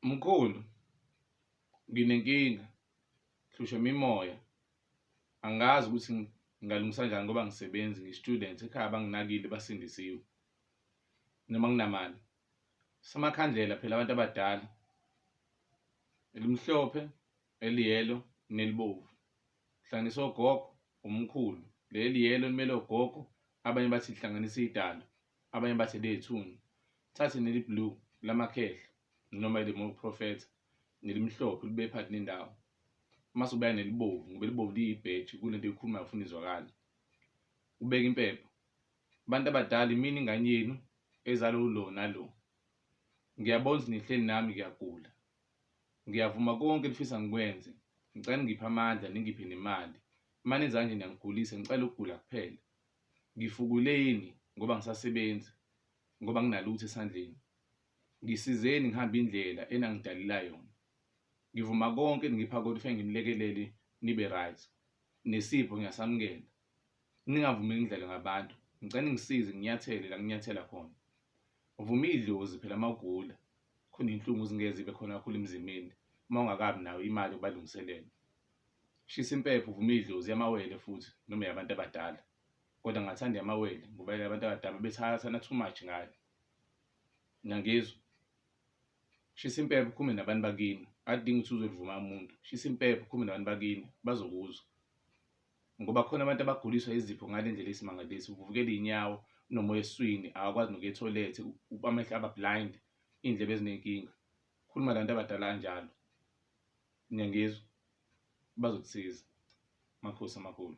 Mkhulu nginenkinga hlushwa imimoya angazi ukuthi ngingalungisa kanjani ngoba ngisebenzi ngi-student ekhaya banginakile basindisiwe noma nginamali samakhandlela phela abantu abadala elimhlophe eliyelo nelibovu hlanganisa ogogo umkhulu leli yelo elimele ogogo abanye bathi lihlanganisa idala. Abanye bathi lethuni. Thathe neli blue lamakhehla noma elimolu profeta nelimhlophe libe phakathi nendawo. Mase ubeka nelibovu ngoba elibovu liyibheji kulento ekhulumayo ufuna izwakala. Ubeka impepho. Abantu abadala imini ingane yenu ezalo lo nalo. Ngiyabona ukuthi nihleli nami ngiyagula. Ngiyavuma konke elifisa ngikwenze. Ngicela ngiphe amandla ningiphe nemali. Uma nenza kanje niyangigulisa ngicela ukugula kuphela. Ngifukuleni ngoba angisasebenzi, ngoba anginalutho esandleni. Ngisizeni ngihambe indlela enangidalila yona. Ngivuma konke eningipha kona ufike nginilekelele nibe right. Nesipho ngiyasamukela. Ningavumi ngidlale ngabantu. Ngicela ningisize nginyathele la nginyathela khona. Vuma idlozi phela mawugula. Khona inhlungu zingeze ibe khona kakhulu emzimbeni uma ungakabi nayo imali yokubalungiselela. Shisa impepho uvume idlozi yamawele futhi noma yabantu abadala. Kodwa ngathanda yamawele ngoba yabantu abadala bethathana too much ngayo. Ngangizwa. Shisa impepho ukhume nabantu bakini. Akudingi ukuthi uzolivuma umuntu. Shisa impepho ukhume nabantu bakini bazokuzwa. Ngoba khona abantu abaguliswa izipho ngale ndlela esimangalisi uvuvukela inyawo unomoya eswini awakwazi nokuya etoilet amehlo aba blind iy'ndlebe ezinenkinga. Khuluma nabantu abadala kanjalo. Ngiyangizwa. Bazokusiza. Makhosi amakhulu.